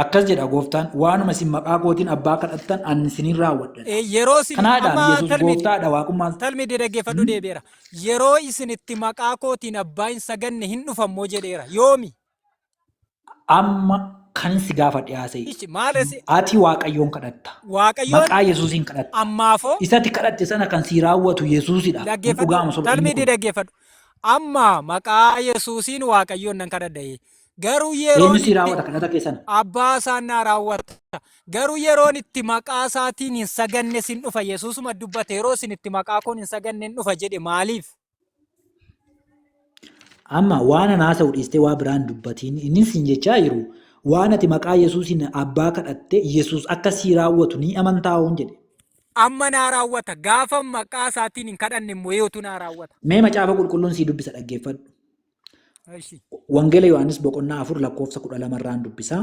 Akkas jedha gooftaan waanuma isin maqaa kootiin abbaa kadhattan ani isiniin raawwadha. Yeroo isin Kanaadhaan amma Yesuus talmidi gooftaadha waaqummaa talmidi dhaggeeffadhu deebi'eera. Yeroo isin itti maqaa kootiin abbaa hin saganne hin dhufammoo jedheera. Yoomi? Amma kanin si gaafadhe haasa'i. Ichi maale si Ati Waaqayyoon kadhatta. Waaqayyoon Maqaa Yesuusiin kadhatta. ammaafoo Isati kadhatte sana kan sii raawwatu Yesuusidha. Kun dhaggeeffadhu dhugaama soba inni talmiidii kun. dhaggeeffadhu amma maqaa yesuusiin waaqayyoon nan kadhadha'e garuu Eenyu yeroon sii itti raawwata kadhata kee sana? abbaa isaan naa raawwata garuu yeroon itti maqaa isaatiin hin saganne sin dhufa yesuusuma dubbate yeroo isin itti maqaa koon hin saganne hin dhufa jedhe maaliif Amma waan an haasa'u dhiistee waa biraan dubbatiin inni siin jechaa jiru waan ati maqaa Yesuusiin abbaa kadhatte Yesuus akka sii raawwatu ni amantaa hoon jedhe. Amma naa raawwata. Gaafa maqaa isaatiin hin kadhanne immoo eeyotu naa raawwata. Mee macaafa qulqulluun sii dubbisa dhaggeeffadhu. Eshi. Wangeela Yohaannis boqonnaa afur lakkoofsa kudha lama irraan dubbisa.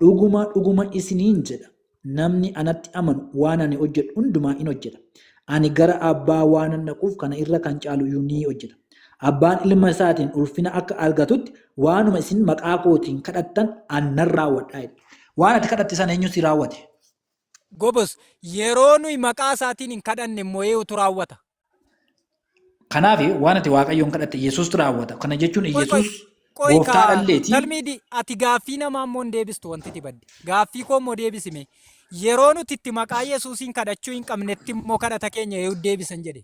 Dhuguma dhuguma isiniin jedha namni anatti amanu waan ani hojjedhu hundumaa in hojjeta. Ani gara abbaa waanan dhaquuf kana irra kan caalu iyyuu ni hojjeta. Abbaan ilma isaatiin ulfina akka argatutti waanuma isin maqaa kootiin kadhattan an nan raawwadha jedhe. Waan ati kadhatte sana eenyu si raawwate? Gobos yeroo nuyi maqaa isaatiin hin kadhanne immoo eenyutu raawwata? Kanaaf waan ati Waaqayyoon kadhatte Yesuustu raawwata. Kana jechuun Yesuus gooftaa dhalleeti. Talmiidi ati gaaffii namaa immoo hin deebistu wanti itti badde. Gaaffii koo immoo deebisime. Yeroo nuti itti maqaa Yesuusiin kadhachuu hin qabnetti immoo kadhata keenya yoo deebisan jedhe.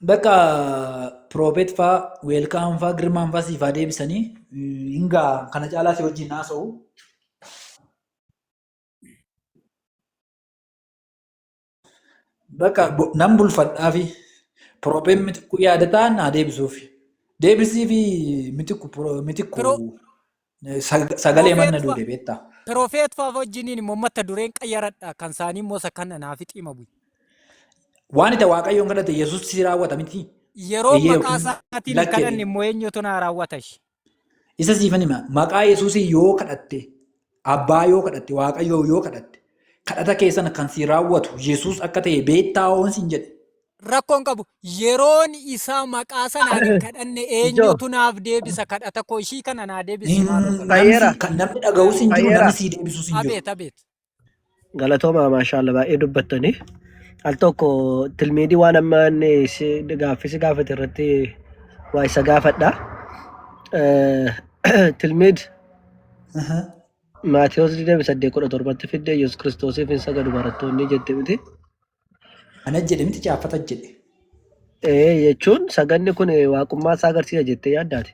Bakka piroobeet faa, weelkaan faa, girmaan faa siifaa deebisanii hin ga'a. Kana caalaa si wajjin haasa'u. Bakka nan bulfadhaafi piroopeen mitikkuu yaadataa naa deebisuuf. Deebisiifi mitikku mitikku Piroo- sag- sagalee manna Piroopeet duude beektaa. Pirofeet fa'aa wajjiniin immoo mata dureen qayyaradha kan isaanii immoo isa kana naaf xiima bu'i. Waan itti waaqayyoon kadhate Yesuus si raawwata miti. Yeroo Eeyyee maqaa yookiin isaatiin hin lakki kadhanne jedhee. immoo eenyutu naa raawwata ishee. Isa siifan hima maqaa Yesuusiin yoo kadhatte abbaa yoo kadhatte waaqayyoo yoo kadhatte kadhata keessan kan si raawwatu Yesuus akka ta'e beektaa hoon siin jedhe. Rakkoon qabu yeroon isaa maqaa sanaan hin kadhanne eenyutu naaf deebisa kadhata koo ishii kana naa deebisi maaloo Hin- kadhata. Fayyera. Namni kan namni dhaga'us hin jiru Fayyera. namni sii deebisus hin jiru. Abeet abeet. Galatoomaa maashaallah baay'ee dubbattanii. Al tokko tilmiidii waan amma inni si gaaffii si gaafate irratti waa isa gaafadha. Eh, Tilmiid Aha. Maatiyos 28:17 fidde Yesuus Kiristoosiif hin sagadu barattoonni jette miti. Ana jedhe miti caaffata jedhe. Ee jechuun saganni kun waaqummaa isaa agarsiisa jettee yaaddaati.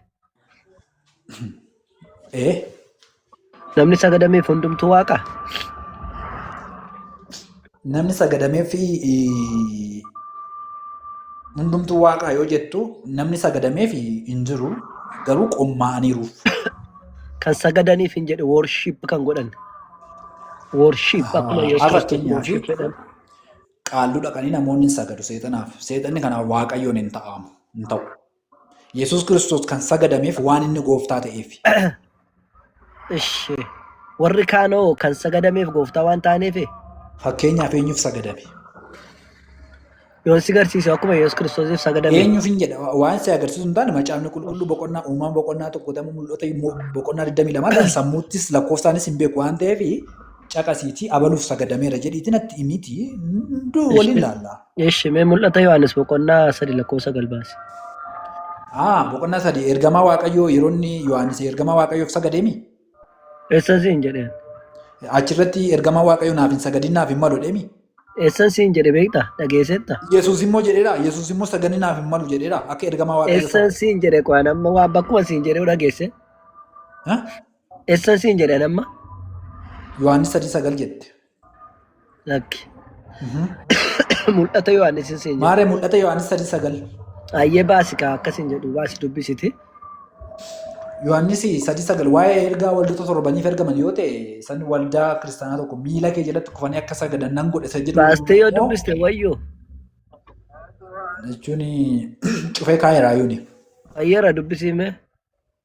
Ee Namni sagadameef hundumtuu waaqa. namni sagadamee fi hundumtuu waaqaa yoo jettu namni sagadamee fi hin jiru garuu qommaa'aniiruuf. Kan sagadaniif hin jedhe worship kan godhan. Worship akkuma Yesuus Har'a Kiristoos fakkeenyaaf worship jedhan. qaalluu dhaqanii namoonni hin sagadu seexanaaf. Seexanni kanaaf waaqayyoon hin ta'aamu hin ta'u. Yesuus Kiristoos kan sagadameef waan inni gooftaa ta'eef. Ishi. Warri kaanoo kan sagadameef gooftaa waan taaneef Fakkeenyaaf eenyuuf sagadame? Yoon si garsiise akkuma Yesuus Kiristoosiif sagadame. Eenyuuf hin jedha waan si agarsiisu hin taane macaafni qulqulluu boqonnaa uumaa boqonnaa tokko ta'uu mul'ata immoo boqonnaa 22 kan sammuuttis lakkoofsaanis hin beeku waan ta'eef caqasiitii abaluuf sagadameera jedhiitii natti himiti hunduu waliin laalla. Eshi mee mul'ata Yohaannis boqonnaa sadi lakkoofsa galbaasi. Ah boqonnaa sadii ergamaa waaqayyoo yeroo inni Yohaannis ergamaa waaqayyoof sagadeemi. Eessan siin jedheen. Achirratti ergamaa Waaqayyo naaf hin sagadin naaf hin malu jedheemi. Eessan siin jedhe beekta dhageessetta. Yesuus immoo jedheera. Yesuus immoo sagadni naaf hin malu jedheera. Akka ergamaa Waaqayyo Eessan siin jedhe qo'an amma waan bakkuma siin jedhe dhageesse. Eessan siin jedhe amma. Yohaannis sadii sagal jette. Lakki. Mul'ata Yohaannis hin seenye. Maarree mul'ata Yohaannis sadii sagal. Ayyee baasi kaa akkas hin jedhu baasi dubbisiti. Yohaannis sadii sagal waa'ee ergaa waldoota torbaniif ergaman yoo ta'e san waldaa kiristaanaa tokko miila kee jalatti kufanii akka sagadan nan godhe isa jedhu Baastee yoo immoo dubbiste wayyoo. jechuun cufee kaa'eera yuuni. Ayyeera dubbisiimee.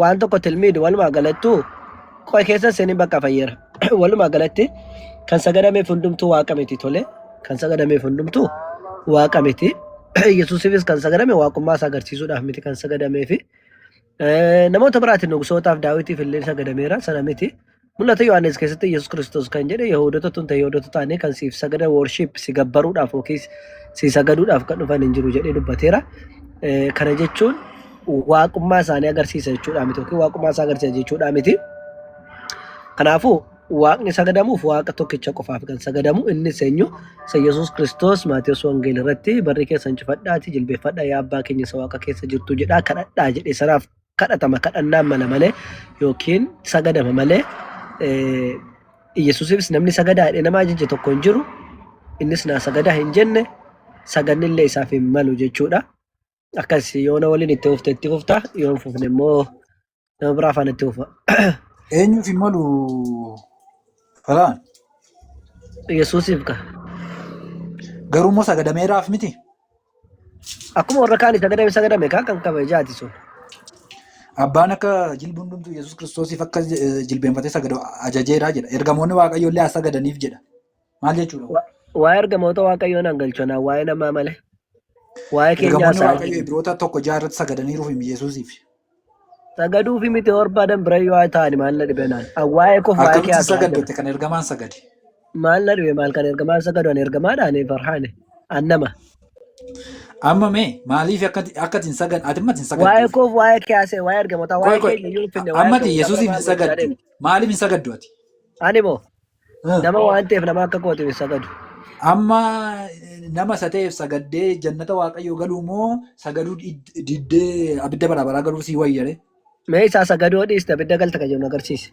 waan tokko tilmiid walumaa galattuu qo'e keessa seenin bakka fayyera walumaa galatti kan sagadameef hundumtuu waaqa miti tole kan sagadameef hundumtuu waaqa miti yesuusifis kan sagadame waaqummaa isaa agarsiisuudhaaf miti kan sagadameefi namoota biraatiin nugsootaaf daawitiif illee sagadameera sana miti Mul'ata Yohaannis keessatti Yesuus Kiristoos kan jedhe Yahuudota tun ta'e Yahuudota taanee kan siif sagada worship si gabbaruudhaaf yookiis si sagaduudhaaf kan dhufan hin jiru jedhee dubbateera. Eh, Kana jechuun waaqummaa isaanii agarsiisa jechuudha miti yookiin waaqummaa isaa agarsiisa jechuudha miti. Kanaafuu waaqni sagadamuuf waaqa tokkicha qofaaf kan sagadamu inni seenyu isa Yesuus Kiristoos Maatiyus Wangeel irratti barri keessan cufadhaatii jilbeeffadhaa yaa abbaa keenya isa waaqa keessa jirtu jedhaa kadhadhaa jedhe sanaaf kadhatama kadhannaan mala malee yookiin sagadama malee Iyyasuusifis namni sagadaa jedhee nama ajaje tokko hin jiru innis naa sagadaa hin jenne saganni illee isaaf hin malu jechuudha. Akkas yoona waliin itti fufte itti fufta yoo hin fufne immoo nama biraa afaan itti fufa. Eenyuuf hin malu falaan Iyyasuusiif ka garuu immoo sagadameeraaf miti. Akkuma warra kaanii sagadame sagadame kaa kan kabajaati sun. Abbaan akka jilbi hundumtuu Yesuus Kiristoosiif akka eh, jilbeenfatee sagadu ajajeera jedha. Ergamoonni Waaqayyoo illee as sagadaniif jedha. Maal jechuudha? Wa- Waa'ee ergamoota waaqayyoo nan galchonaa waa'ee namaa malee. Waa'ee keenyaa Ergamoonni isaa Waaqayyoo Ibroota tokko jaha irratti sagadaniiruuf Yesuusiif. Sagaduu fi miti barbaadan bira yoo haa ta'ani maal na dhibe naan. An waa'ee koof waa'ee kee Akkamitti haasa'aa jira. sagaddate kan ergamaan sagade? Maal na dhibe maal kan ergamaa sagadu ani ergamaadha ani farhaane. An nama. Amma mee maaliif akka akka isin sagan ati mati hin Waa'ee sagadduuf? koof waa'ee kee haasa'e waa'ee ergamotaa Qoy waa'ee qoy keenya yoo finne waa'ee ammati kee Yesuusiif hin sagaddu. Maaliif hin sagaddu ati? Ani moo Eh, Nama waan ta'eef nama akka kootiif hin sagadu. Amma eh, nama isa ta'eef sagaddee jannata waaqayyoo galuu moo sagaduu did- diddee abidda bara baraa galuu sii wayyare? Mee isaa sagadoo dhiiste abidda galta kan jedhu agarsiise.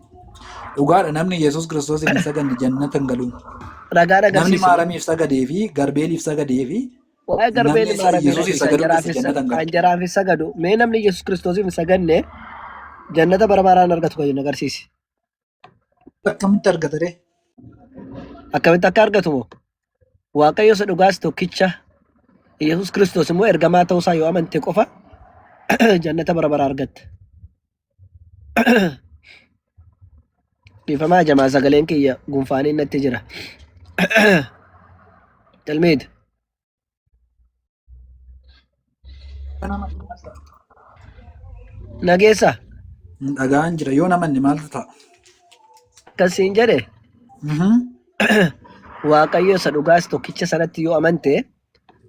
Dhugaadha namni Yesuus Kiristoosiif hin saganne jannata hin galu. Ragaan Namni agarsiise. Maaramiif sagadee fi Garbeeliif sagadee fi Waa'ee namni garbeen isa maaramiidha Yesuusiif isa sagaduu dhiise jannata hin galu. anjaraaf hin sagadu. Mee namni Yesuus Kiristoosiif hin saganne jannata bara baraan argatu kan jedhu agarsiise. Akkamitti argata ree? Akkamitti akka argatu moo? Waaqayyo isa dhugaas tokkicha Yesuus Kiristoos immoo ergamaa ta'uusaa yoo amante qofa jannata bara baraa argatta. Dhiifamaa jamaa sagaleen kiyya gunfaanii natti jira. Galmeeti. Nageessa Hin dhaga'an jira yoo namanne maaltu ta'a? akkas siin jedhe Mhm. Waaqayyo isa dhugaas tokkicha sanatti yoo amante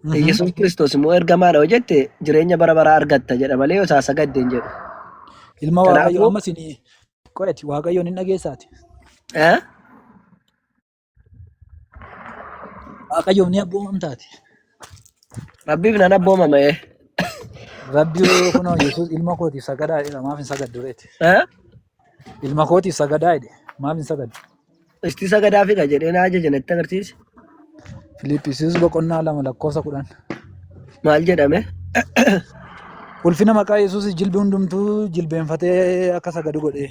Mhm. Yesuus Kiristoos immoo ergamaadha yoo jette jireenya bara baraa argatta jedha malee yoo isaa sagadde hin jedhu. Ilma Kanaafuu- Waaqayyo amma isin qo'eeti Waaqayyoon hin dhageessaati. Eh? Waaqayyoof ni abboomamtaati. Rabbiif nan abboomama ee. Rabbi kunoo Yesuus ilma kootiif sagadaa jedha maaf hin sagaddu reeti. Eh? Ilma kootiif sagadaa jedhe maaf hin sagaddu. Isti sagadaa figa jedhee na ajaje natti agarsiisi. Filiiphisiis boqonnaa lama lakkoofsa kudhan. Maal jedhame? Ulfina maqaa Yesuus jilbi hundumtuu jilbeenfatee akka sagadu godhee.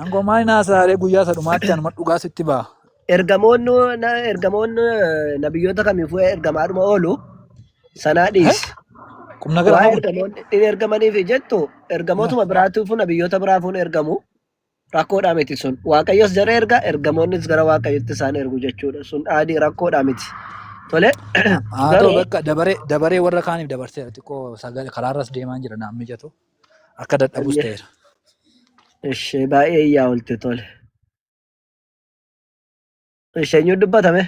Aangoo maal hin haasa'aaree guyyaa isa dhumaatti anuma dhugaa sitti ba'a. Ergamoonni na- ergamoonni eh, nabiyyoota kamiifuu ergamaadhuma oolu sanaa Eh? dhiisi. Qum Waa'ee nagaramaa kun. ergamoonni hin ergamaniif jettu Eh. ergamootuma biraatiifuu nabiyyoota biraafuun ergamu rakkoodhaa miti sun. Waaqayyos jara erga ergamoonnis gara waaqayyotti isaan ergu jechuudha. Sun dhaadii rakkoodhaa miti. Tole Haa ta'u garuu bakka dabaree dabaree warra kaaniif dabarseera xiqqoo sagalee karaarras deemaan jira naan mijatu. akka dadhabus Ayya. ta'eera. Ishee baay'ee iyyaa oolte tole. Ishee eenyu dubbatame?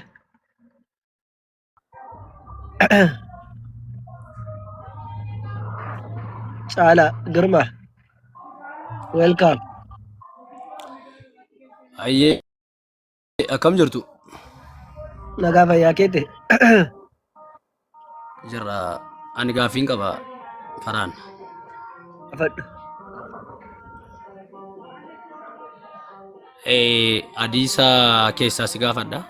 Caala Girma. Welcome. Ayyee Akkam jirtu? Nagaa fayyaa keete. Jirra. Ani gaaffiin qaba karaan. Afadhu. Eh, Adiisa keessaa si gaafadha.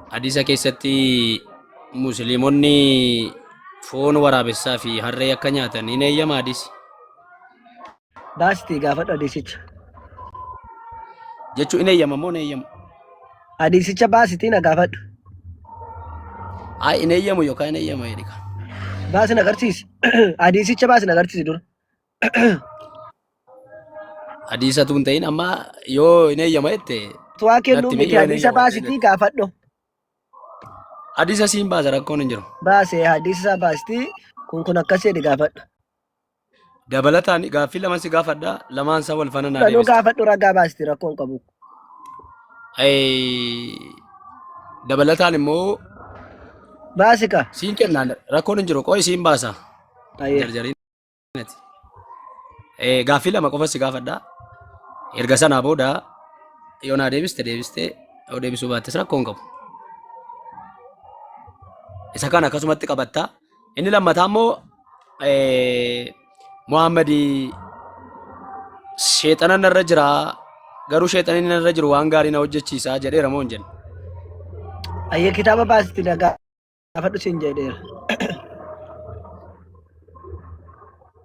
Adiisa keessatti musliimonni foon waraabessaa fi harree akka nyaatan hin eeyyama adiisi. Baasiti gaafadhu hadiisicha. Jechuu in eeyyama moo in eeyyamu? Hadiisicha baasitii na gaafadhu. Ay in eeyyamu yookaan in eeyyama jedhika. Baasi na agarsiisi. Hadiisicha baasi na agarsiisi dura. Hadiisatu hin ta'in amma yoo in eeyyama jette Tuwaa kennuu Natti miti mee yoo hadiisa eeyyama baasitii ta'e. gaafadhu. hadiisa siin baasa rakkoon hin jiru. Baase hadiisa isaa baasitii kun kun akkas jedhi gaafadhu. Dabalataan gaaffii lama si gaafadha. Lamaan isaa wal faana naa Kanuu deebista. gaafadhu ragaa baasti rakkoon qabu. Eh, Dabalataan immoo Baasi ka. siin kennaan rakkoon hin jiru. Qo'i siin baasa. Ayyee. Jarjariin. Eh, Gaaffii lama qofa si gaafadha. Erga sanaa booda yoo naa deebiste deebiste yoo deebisuu baattes rakkoon qabu. Isa kana akkasumatti qabatta. Inni lammataa immoo Muhammad sheexana narra jira garuu sheexanni narra jiru waan gaarii na hojjechiisa jedheera moo hin jenne. Ayya kitaaba baasitti na gaafadhu siin jedheera.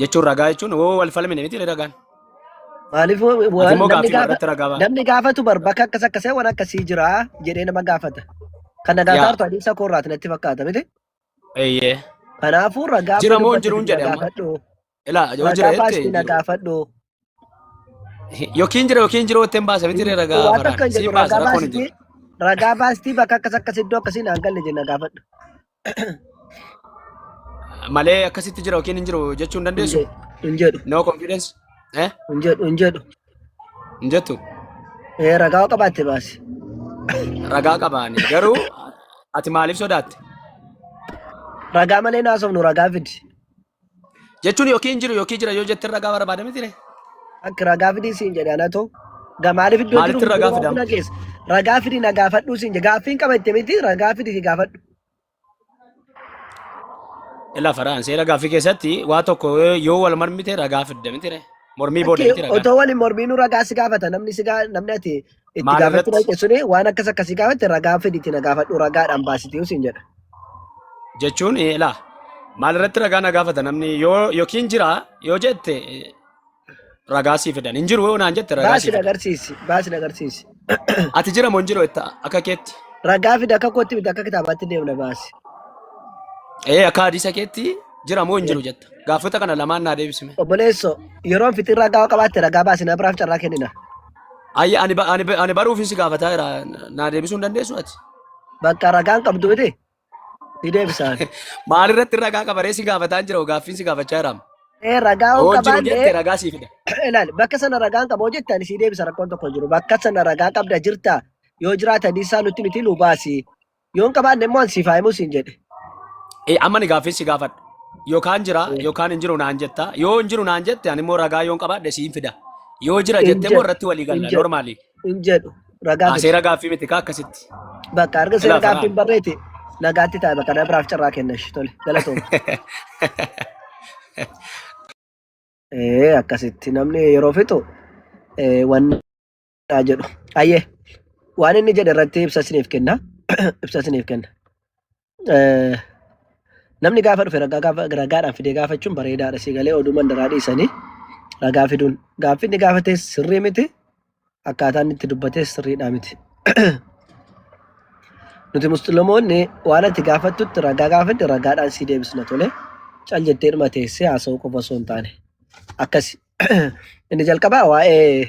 jechuun ragaa jechuun woo wal falmine miti ragaan. Maaliif wa- Ati wa- immoo namni gaaffii gaafa irratti ragaa ba'a. namni gaafatu bar bakka akkas akkasee waan akkasii jira jedhee nama gaafata. Kan nagaa Yaa. taartu adeemsa koorraati natti fakkaata miti. Eeyyee. Kanaafuu ragaa Jira moo dubbatu jiruun na jedhe amma? gaafadhu. Ilaa yoo jira Ragaa jettee. baasii na gaafadhu. Yookiin jira yookiin jiru ittiin baasa miti ree ragaa Waan takka hin faraan. jedhu Siin baasa ragaa rakkoon hin baastii jiru. ragaa baastii bakka akkas akkas iddoo akkasiin aan galle jenna gaafadhu. Malee akkasitti jira yookiin hin jiru jechuu hin Hin dandeessu. jedhu hin jedhu No confidence. Eh? hin jedhu hin jedhu. Hin jettu. Ee ragaa qabaatte baasi. Ragaa qabaani. Garuu ati maaliif sodaatte? Ragaa malee naasofnu ragaa fidi. Jechuun yookiin hin jiru yookiin jira yoo jette ragaa barbaada miti ree. Akka ragaa fidii siin jedhe ana too. Gamaaliif iddoo Maalitti jiru ragaa fidama? na geessa. Ragaa fidii na gaafadhuu siin jedhe. Gaaffiin qaba itti miti ragaa fidii si gaafadhu. Ilaa faraan seera gaaffii keessatti waa tokko yoo wal mormite ragaa fidda miti ree. Mormii booda miti Lakkii ragaa. otoo waliin mormiinuu ragaa si gaafata namni si gaa namni ati Itti Maal gaafachuu irratti? dhaqe suni waan akkas akkasii gaafate ragaa fidi itti na gaafadhu ragaadhaan baasitee siin jedha. jechuun eh, ilaa maal irratti ragaa na gaafata namni yoo yookiin jira yoo jette eh, ragaa sii fidan hin jiru yoo naan jette ragaa Baasi sii na fidan agarsiisi baasi na agarsiisi. ati jira moo hin jiru jetta akka keetti Ragaa fidi akka kootti miti akka kitaabaatti deemna baasi. ee akka hadiisa keetti jira moo hin jiru jetta gaafota kana lamaan naa deebisime Obboleesso yeroon fitiin ragaa qabaatte ragaa baasi na biraaf carraa kennina. Ayya ani ba- ani ba- ani baruufin si gaafataa jira naa deebisuu hin dandeessu ati. Bakka ragaan qabdu miti. Ni deebisaan. Maalirratti ragaa qabaree si gaafataa hin jira gaaffiin si gaafachaa jiraam. Ee ragaa on Oon jiru jette qabaanne ragaa sii fida. ilaal bakka sana ragaan qaboo jette ani sii deebisa rakkoon tokko hin jiru. Bakka sana ragaa qabda jirta yoo jiraatan isaa nutti miti nu baasi. Yoon qabaanne immoo an siif haa himu siin jedhe. Eh, amma ni gaaffii si gaafadha. Yookaan jira Eh. yookaan hin jiru naan jetta. Yoo hin jiru naan jette ani immoo ragaa yoon qabaadhe siin fida. Yoo jira Hin jette immoo jedhu, irratti walii hin galla jedhu. normaalii. Hin jedhu ragaa Ah, fide. seera gaaffii miti kaa akkasitti. Bakka arga seera Ilaa faraa. gaaffiin barreeti nagaatti taa'e bakka na biraaf carraa kenna ishee tole galatooma. Eh, Akkasitti namni yeroo fixu eh, wanni dha jedhu. Ayyee waan inni jedhe irratti ibsa isiniif kenna. Ibsa isiniif kenna. Eh, Namni gaafa dhufe ragaa gaafa ragaadhaan fidee gaafachuun bareedaadha si galee oduu mandaraa dhiisanii ragaa fiduun gaaffi inni gaafate sirrii miti akkaataa inni itti dubbate sirriidhaa miti. Nuti musliimoonni waan ati gaafattutti ragaa gaafadhe ragaadhaan si deebisna tole cal jettee dhuma teessee haasa'uu qofa osoo hin taane akkasi. Inni jalqabaa waa'ee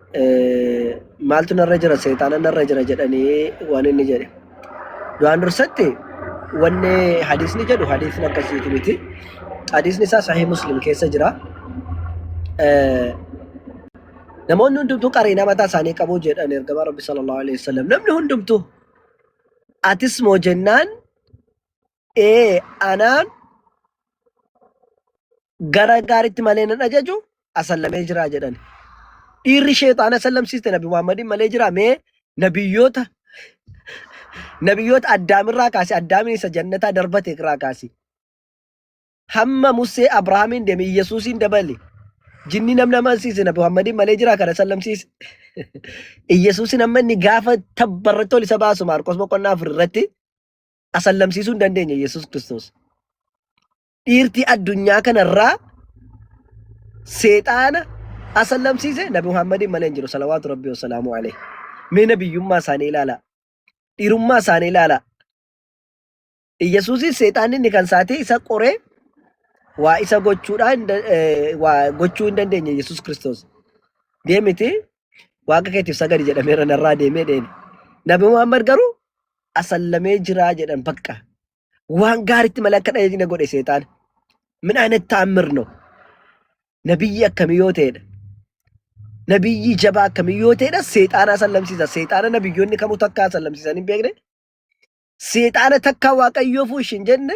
maaltu narra jira seexaana narra jira jedhanii waan inni jedhe. Du'aan dursatti wanni hadiisni jedhu hadiisni akkasiiti miti. Hadiisni isaa sahih muslim keessa jira. Namoonni hundumtuu qariinaa mataa isaanii qabu jedhan ergamaa rabbi sallallahu alaihi wasallam. Namni hundumtuu atis moo jennaan Ee, anaan gara gaariitti malee nan ajaju asallamee jira jedhan. Dhiirri sheexaana sallamsiiste Nabi Muhammadiin malee jira mee nabiyyoota nabiyyoota addaamirraa kaase addaamiin isa jannataa darbate irraa kaase. Hamma Musee Abrahaamiin deeme Iyyasuusiin dabale. Jinni namni amansiise Nabi Muhammadiin malee jira kana sallamsiise. Iyyasuusiin amma inni gaafa tabbarratti ol isa baasu Maarqos boqonnaa afur irratti asallamsiisuu hin dandeenye Yesuus Kiristoos. Dhiirtii addunyaa kanarraa seexaana asallamsiise Nabi Muhammadiin malee hin jiru salawaatu rabbi wasalaamu alee. Mee nabiyyummaa isaanii ilaalaa. Dhiirummaa isaanii ilaalaa. Iyyasuusis seexaanni inni kan isaatee isa qoree waa isa gochuudhaa hin da- eh, waa gochuu hin dandeenye Yesuus Kiristoos. Deemiti Waaqa keetiif sagadi jedhameera narraa deemee deeme. Nabi Muhammad garuu asallamee jiraa jedhan bakka. Waan gaaritti malee akka dhaheetti na godhe seexaan. Min aynet ta'ammir no. Nabiyyi akkamii yoo ta'edha. Nabiyyi jabaa akkamii yoo ta'edha seexaana asallamsiisa. Seexaana nabiyyoonni kamuu takka asallamsiisan hin beekne. Seexaana takka waaqayyoo fuushi hin jenne.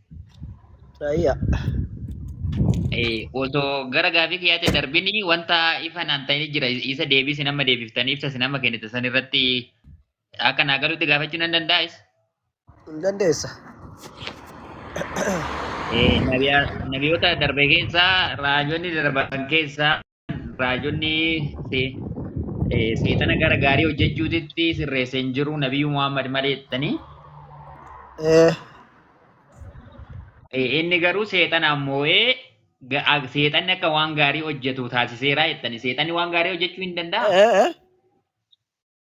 Rayya. Eh, osoo gara gaafii kiyyaatti hin darbin wanta ifa naan ta'e jira isa deebii isin amma deebiftanii ibsa isin amma kennite san irratti akka naa galutti gaafachuu nan dandaa'is. Hin dandeessa. Eh, nabiya- nabiyoota darbe keessaa raajonni darban keessaa raajonni seexana gara gaarii hojjechuutitti sirreesse hin jiru nabiyyuu Muhammad malee jettanii inni garuu seexanaan moo'ee seexanni akka waan gaarii hojjetu taasiseera jettanii seexanni waan gaarii hojjechuu hin danda'a.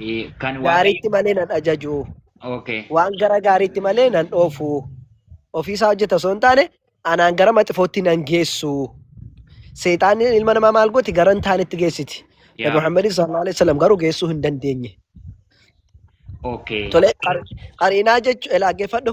Eh, Kan waaqayyo. gaariitti malee nan ajaju. Okay. Waan gara gaariitti malee nan dhoofu. Ofiisaa hojjeta osoo hin taane anaan gara maxifootti nan geessu. Seexaanni ilma namaa maal gooti gara hin taanetti geessiti. Nabi Yaa. Muhammad sallallahu alaihi wasallam garuu geessuu hin dandeenye. Okay. Tole qar- qariinaa jechuun dhaggeeffadhu.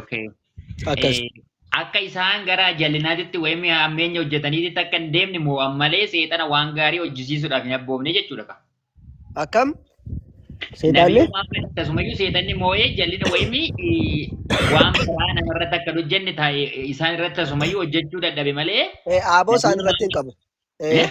Okay. Akkas. Eh, Akka isaan gara jallinaatitti wayim hammeenya hojjetaniitti akka hin deemne moo'an malee seexana waan gaarii hojjisiisuudhaaf hin abboomne jechuudha. ka. Akkam? Nabiyyuu Seexaanni? Muhammad akkasumayyuu seexanni moo'ee jallina wayimii eh, waan biraa namarratti akka hin hojjenne taa'e isaan irratti akkasumayyuu hojjechuu dadhabe malee Eh, Aaboo isaan Nabiyyuu irratti hin Muhammad qabu. Eh, Eh?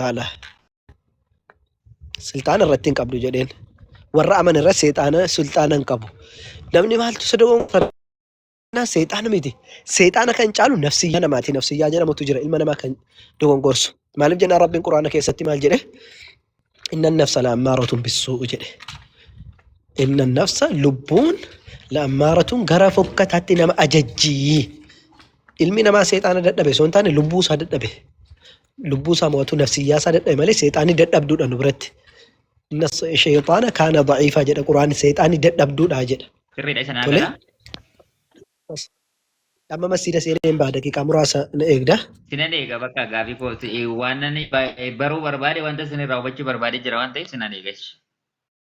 taala sulxaana irratti hin qabdu jedheen warra aman irra seexaana sulxaana hin qabu namni maaltu isa dogoonfannaa seexaana miti seexaana kan caalu nafsiyyaa namaati nafsiyyaa jedhamutu jira ilma namaa kan dogongorsu maaliif jennaan rabbiin quraana keessatti maal jedhe inna nafsa la'ammaaratun bissuu jedhe inna nafsa lubbuun la'ammaaratun gara fokkataatti nama ajajjii ilmi namaa seexaana dadhabe osoo hin taane lubbuu isaa dadhabe lubbuu isaa mo'atu nafsiyyaa isaa dadhabe malee seexaanni dadhabduudha nu biratti. Inna sheexaana kaana daciifaa jedha quraanni seexaanni dadhabduudha jedha. Sirriidha isa naa Tole. gala. Amma masjiida seenee hin baha daqiiqaa muraasa na eegda. Sinan eega bakka gaafii koo si- eh, waan ani ba- eh, baruu barbaade wanta isin irraa hubachuu barbaade jira waan ta'eef sinan eega. ishi.